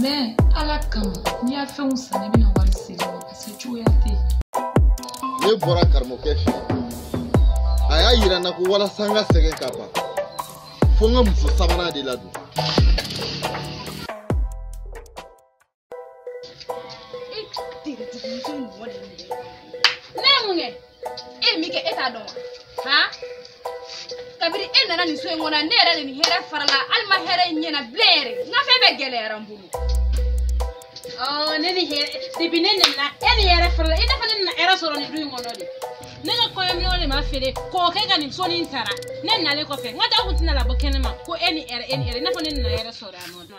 mais ala kama n'i y'a fɛnw san n bɛna wari segin i ma parce que cogoya tɛ yen ne bɔra karamɔgɔkɛ fɛ a y'a yira n na ko walasa n ka sɛgɛn ka ban fo n ka muso sabanan de ladon e ye min kɛ e t'a dɔn wa han kabiri e nana nin so in kɔnɔ ne yɛrɛ de ni hɛrɛ farala hali n ma hɛrɛ ye n ɲɛna bilen yɛrɛ n ka fɛn bɛɛ gɛlɛyara n bolo ɔɔ ne ni hɛrɛ depuis ne nana e ni hɛrɛ farala i n'a fɔ ne nana hɛrɛ sɔrɔ nin du in kɔnɔ de ne ka kɔɲɔminɛnw de ma feere k'o kɛ ka nin sonin in sara ne nalen kɔfɛ n ka taa kun tɛna labɔ kɛnɛ ma ko e ni hɛrɛ e ni hɛrɛ i n'a fɔ ne nana hɛrɛ sɔrɔ yan nɔ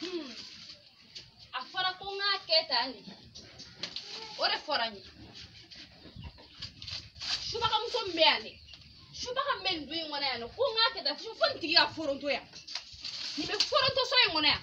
Hmm. a fɔra ko n k'a kɛ tan de o de fɔra n ye subagamuso min bɛ yan dɛ subaga min bɛ nin du in kɔnɔ yan nɔ ko n k'a kɛ tan fo nin tigi ka foronto yan nin bɛ foronto so in kɔnɔ yan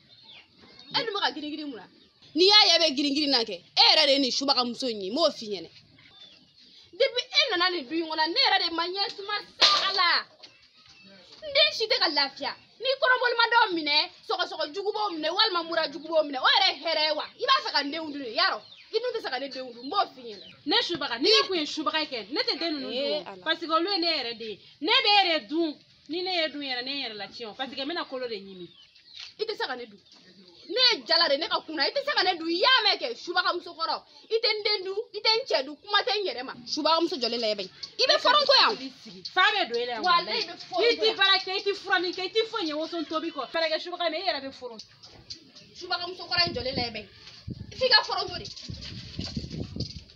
e dun bɛ ka girigirin mun na n'i y'a ye e bɛ girigirin na kɛ e yɛrɛ de ye nin subagamuso in ye n b'o f'i ɲɛna depuis e nana nin du in kɔnɔ ne yɛrɛ de ma ɲɛsuma sa ala n den si tɛ ka lafiya ni kɔnɔboli ma dɔw minɛ sɔgɔsɔgɔ jugu b'o minɛ walima mura jugu b'o minɛ o yɛrɛ ye hɛrɛ ye wa i b'a fɛ ka n denw dun de yarɔ i dun tɛ se ka ne denw dun n b'o f'i ɲɛna ne subaga ni ne kun ye subaga kɛ ne tɛ den ninnu dun parce que olu ye ne yɛrɛ de ye ne bɛ e de dun ni ne y'e dun yɛrɛ ne ye n yɛrɛ latiɲɛ o parce que n bɛna kolo de ɲimi i tɛ se ka ne dun ne ye jala de ne ka kunan i tɛ se ka ne dun i y'a mɛn kɛ subagamuso kɔrɔ i tɛ n den dun i tɛ n cɛ dun kuma tɛ n yɛrɛ ma subagamuso jɔlen lajɛ bɛ i bɛ foronto yan fa bɛ don e la yan walayi i bɛ foronto i tɛ baara kɛ i tɛ furanni kɛ i tɛ foyi ɲɛ woso tobi kɔ fɛɛrɛ kɛ subaga mais i yɛrɛ bɛ foronto subagamuso kɔrɔ in jɔlen lajɛ bɛ f'i ka foronto de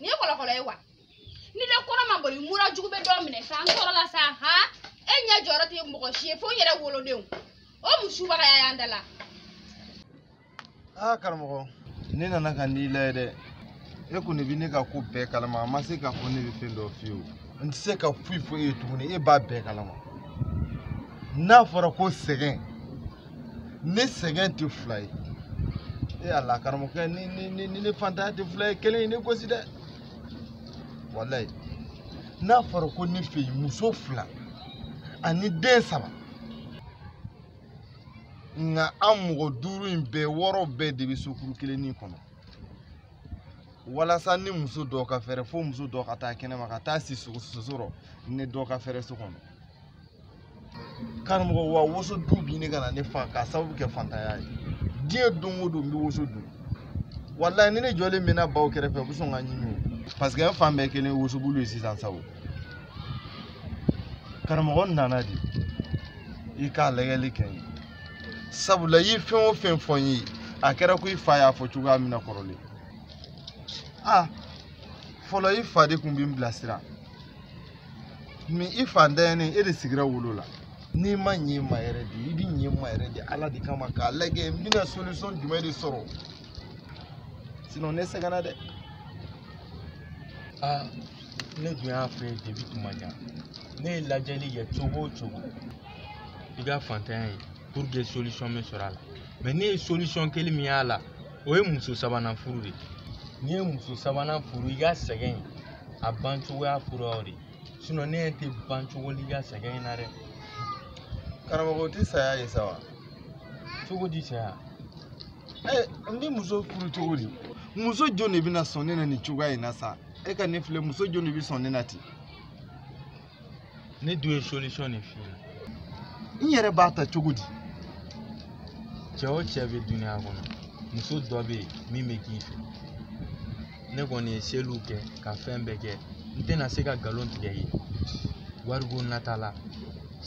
nin ye kɔlɔkɔlɔ ye wa ni den kɔnɔ ma boli mura jugu bɛ dɔ minɛ sa n tɔɔrɔla sa ha e ɲɛ jɔyɔrɔ tɛ mɔgɔ si ye fo n yɛrɛ wolodenw o mun subagaya y'an da la aa karamɔgɔ ne nana ka n'i layɛ dɛ e kɔni bɛ ne ka ko bɛɛ kalama a ma se k'a fɔ ne bɛ fɛn dɔ f'i ye n tɛ se ka foyi fɔ e ye tuguni e b'a bɛɛ kalama n'a fɔra ko sɛgɛn ne sɛgɛn tɛ fila ye e ala karamɔgɔkɛ ni ni ni ni ne faantanya tɛ fila ye kelen ye ne gosi dɛ walayi n'a fɔra ko ne fɛ yen muso fila ani den saba nka an mɔgɔ duuru in bɛɛ wɔɔrɔ bɛɛ de bɛ sokuru kelennin kɔnɔ walasa ni muso dɔ ka fɛrɛ fo muso dɔ ka taa kɛnɛma ka taa si soso rɔ ni dɔ ka fɛrɛ so kɔnɔ karamɔgɔ wa woso dun bi ne ka na ne fa k'a sababu kɛ fantanya ye diɲɛ don o don n bɛ woso dun walayi ni ne jɔlen bɛ na baw kɛrɛfɛ u bɛ sɔn ka n ɲimi o parce que n fan bɛɛ kɛlen wosobulu ye sisan sa ko karamɔgɔ n nana de i k'a lajɛli kɛ n ye sabula i ye fɛn o fɛn fɔ n ye a kɛra ko i fa y'a fɔ cogoya min na kɔrɔlen a fɔlɔ i fa de tun bɛ n bilasira mɛ i fantanya in e de sigira wolo la n'i ma ɲɛ ma yɛrɛ de i bɛ ɲɛ ma yɛrɛ de ala de kama k'a lajɛ n bɛna solution jumɛn de sɔrɔ sinon ne sɛgɛnna dɛ aa ne dun y'a fɔ depi tuma jan ne ye lajɛli kɛ cogo o cogo i ka fantanya ye pour que solution bɛ sɔrɔ a la mɛ ne ye solution kelen min y'a la o ye muso sabanan furu de ye n'i ye muso sabanan furu i ka sɛgɛn a ban cogoya fura o de sinon ne ɲɛ tɛ ban cogo l'i ka sɛgɛn in na dɛ karamɔgɔ o tɛ saya ye sa wa cogo di saya ɛ n bɛ muso furu cogo di muso jɔn de bɛna sɔn ne na nin cogoya in na sa e ka ne filɛ muso jɔn de bɛ sɔn ne na ten ne dun ye solution de f'i ɲɛna n yɛrɛ b'a ta cogo di cɛ o cɛ bɛ duniya kɔnɔ muso dɔ bɛ yen min bɛ k'i fɛ ne kɔni ye seliw kɛ ka fɛn bɛɛ kɛ n tɛna se ka nkalon tigɛ i ye wariko nata la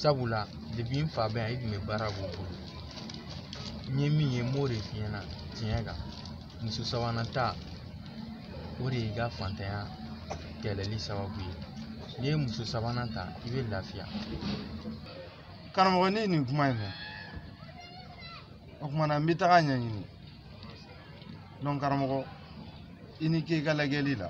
sabula depi n fa bɛ yan i tun bɛ baara k'o bolo n ye min ye n b'o de f'i ɲɛna tiɲɛ kan muso sabanan ta o de y'i ka fantanya kɛlɛli sababu ye n'i ye muso sabanan ta i bɛ lafiya karamɔgɔ ne ye nin kuma in mɛn o tuma na n bɛ taga ɲɛɲini donc karamɔgɔ i ni ce i ka lajɛli la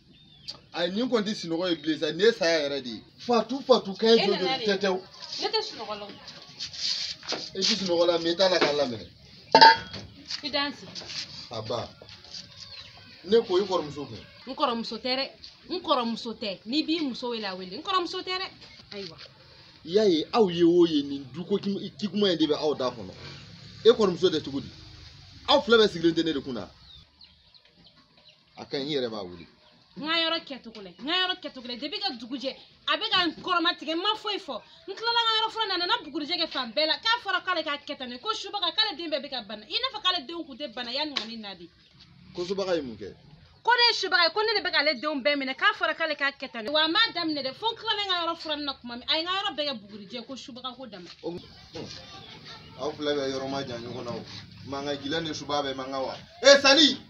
a nin kɔni tɛ sunɔgɔ ye bilen sa nin ye saya yɛrɛ de ye fatu fatu kɛ jɔ jɔ tɛ tɛ o ne tɛ sunɔgɔ la e tɛ sunɔgɔ la mɛ i t'a la k'a laminɛ i danse nba ne ko i kɔrɔmuso dun n kɔrɔmuso tɛ dɛ n kɔrɔmuso tɛ n'i b'i muso wele a wele n kɔrɔmuso tɛ dɛ ayiwa i y'a ye aw ye o ye nin duko kikuma in de bɛ aw da kɔnɔ e kɔrɔmuso tɛ cogo di aw fila bɛɛ sigilen tɛ ne de kun na a ka ɲi n yɛrɛ b'a wele n ka yɔrɔ kɛcogo la n ka yɔrɔ kɛcogo la depi ka dugu jɛ a bɛ ka n kɔrɔmatigɛ n ma foyi fɔ n tilala n ka yɔrɔ furan na a nana bugurijɛ kɛ fan bɛɛ la k'a fɔra k'ale k'a kɛ tan de ko subaga k'ale den bɛɛ bɛ ka bana i n'a fɔ k'ale denw tun tɛ bana yanni ka ne na de ko subaga ye mun kɛ ko ne ye subaga ye ko ne de bɛ k'ale denw bɛɛ minɛ k'a fɔra k'ale k'a kɛ tan de wa a m'a daminɛ dɛ fo n tilala n ka yɔrɔ furanni na tuma min a ye n ka yɔrɔ bɛɛ kɛ bugurijɛ ko subaga ko dama o hum, aw fila bɛɛ yɔrɔ man jan ɲɔgɔn na o mankan gila ni subaga bɛ mankan wa e sali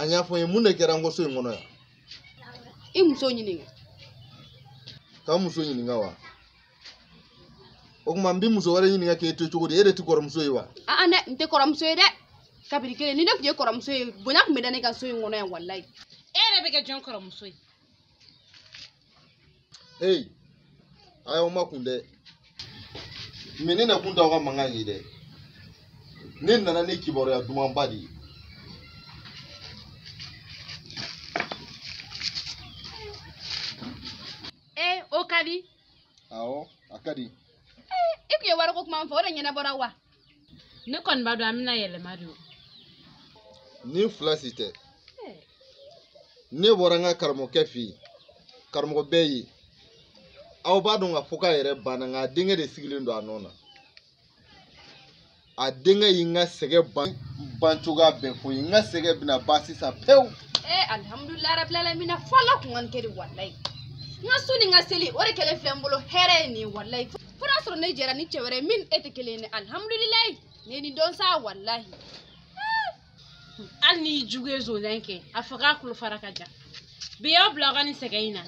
a y'a fɔ n ye mun de kɛra n kɔ so in kɔnɔ yan i muso ɲininka ka n muso ɲininka wa o tuma n bɛ muso wɛrɛ ɲininka k'e to cogo di e de tɛ kɔrɔmuso ye wa aa dɛ n tɛ kɔrɔmuso ye dɛ kabiri kelen ni ne tun ye kɔrɔmuso ye bonya tun bɛ da ne kan so in kɔnɔ yan walayi e yɛrɛ bɛ kɛ jɔn kɔrɔmuso ye hey a y'aw makun dɛ mɛ ne na kun t'aw ka mankan ye dɛ ne nana ni kibaruya dumanba de ye ee eh, o ka di awɔ a ka di eh, i tun ye wariko kuma fɔ o de ɲɛnabɔra wa ne kɔni b'a dɔn an bɛna yɛlɛma de o nin fila si tɛ ne bɔra n ka karamɔgɔkɛ fɛ yen karamɔgɔ bɛɛ ye aw b'a dɔn k'a fɔ k'a yɛrɛ banna nka a denkɛ de sigilen don a nɔ na a denkɛ ye n ka sɛgɛn ban cogoya bɛɛ fɔ n ye n ka sɛgɛn bɛna ban sisan pewu. ee alihamudulilayi rabilalamina fɔlɔ kun ka nin kɛ de walayi n ka sun ni n ka seli o de kɛlen filɛ n bolo hɛrɛ ye nin ye walayi. fo n'a sɔrɔ ne jɛra ni cɛ wɛrɛ ye min n'e tɛ kelen ye ne alihamudulilayi ne ye nin dɔn sa walahi hali n'i jugu ye zonzan kɛ a fɔ k'a kulo fara ka jan bi y'aw bila aw ka nin sɛgɛn in na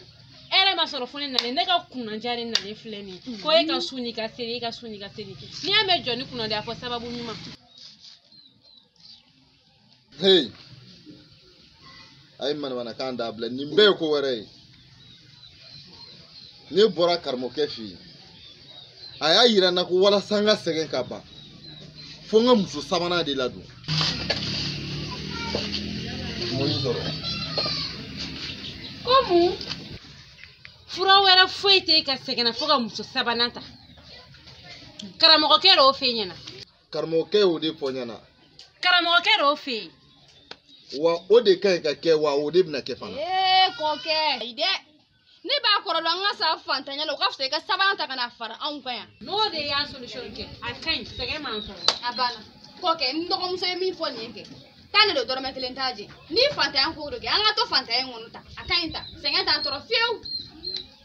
hɛrɛ ma sɔrɔ fo ne nalen ne ka kunnadiya de nalen filɛ nin ye ko e ka sun n'i ka seli e ka sun n'i ka seli n'i y'a mɛn jɔnni kunnadi a fɔ sababu ɲuman hey a ye manamanakan dabila nin bɛɛ ye ko wɛrɛ ye ne bɔra karamɔgɔkɛ fɛ yen a y'a yira n na ko walasa n ka sɛgɛn ka ban fo n ka muso sabanan de ladon ko mun fura wɛrɛ foyi tɛ n ka sɛgɛn na fo ka muso sabanan ta karamɔgɔkɛ de y'o fɔ n ɲɛna karamɔgɔkɛ y'o de fɔ i ɲɛna karamɔgɔkɛ de y'o fɔ n ye wa o de ka kan ka kɛ wa o de bɛna kɛ fana ee kɔkɛ ayi dɛ ne b'a kɔrɔ dɔn an ka sa fantanya la o ka fisa i ka sabanan ta ka na fara anw kan yan n'o de y'a solution kɛ a ka ɲi sɛgɛn m'an sɔrɔ a banna kɔkɛ n dɔgɔmuso ye min fɔ nin ye kɛ tiɲɛ don dɔrɔmɛ kelen t'a jɛ ni fantanya ko don kɛ an ka to fantanya in kɔnɔ tan a ka ɲi tan sɛgɛn t'an tɔɔrɔ fiyewu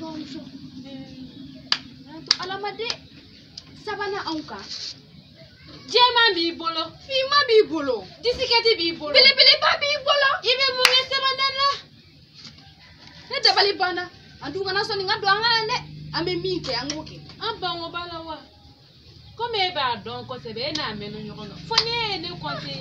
bamuso an to ala ma dɛ sabanan anw kan jɛman b'i bolo finman b'i bolo disikɛti b'i bolo belebeleba b'i bolo i bɛ mun kɛ sabanan na ne dabali banna an dun kana sɔn nin ka don an kan na dɛ an bɛ min kɛ an k'o kɛ an bangebaa la wa komi e b'a dɔn kosɛbɛ e n'a mɛnna ɲɔgɔn na fo ne ye ne kɔnte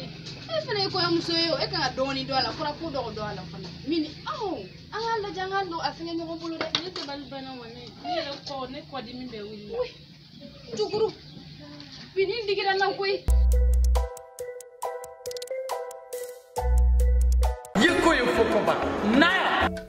e fana ye kɔrɔmuso ye o e kan ka dɔɔni dɔn a la fɔra ko dɔgɔ dɔn a la fana min aw an k'a lajɛ an k'a don a fɛngɛ ɲɔgɔn bolo dɛ ne dabali banna wa ne ne yɛrɛ kɔ ne kɔ dimi bɛ wuli tuguni bi nin digira n na koyi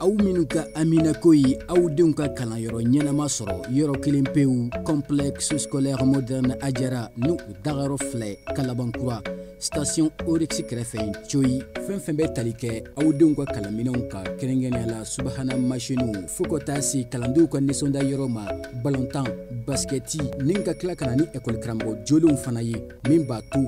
aw minnu ka haminako ye aw denw ka kalanyɔrɔ ɲɛnama sɔrɔ yɔrɔ kelen pewu complexe scolaire moderne ajara ni u dagayɔrɔ filɛ kalabankura station oryx kɛrɛfɛ coyi fɛn fɛn bɛ tali kɛ aw denw ka kalanminɛnw kan kɛrɛnkɛrɛnnenya la subahana masiniw fo ka taa se kalandenw ka nisɔndiya yɔrɔ ma balontan basikɛti ni ka tila ka na ni ekɔli karamɔgɔ jolenw fana ye min b'a to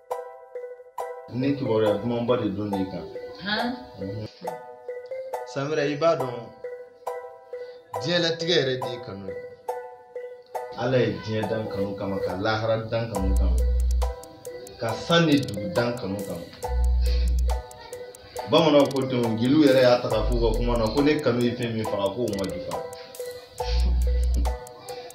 ne kibaruya dumanba de don ne kan samira i b'a dɔn diɲɛlatigɛ yɛrɛ de ye kanu ye ala ye diɲɛ dan kanu kama ka lahara dan kanu kama ka san ni dugu dan kanu kama bamananw ko ten jeliw yɛrɛ y'a ta k'a f'u ka kuma na ko ne kanu ye fɛn min faga k'o ma jufa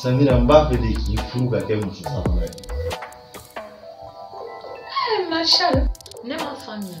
Samira n b'a fɛ de k'i furu ka kɛ muso sabanan ye. Ɛɛ Marshal ne m'a faamuya.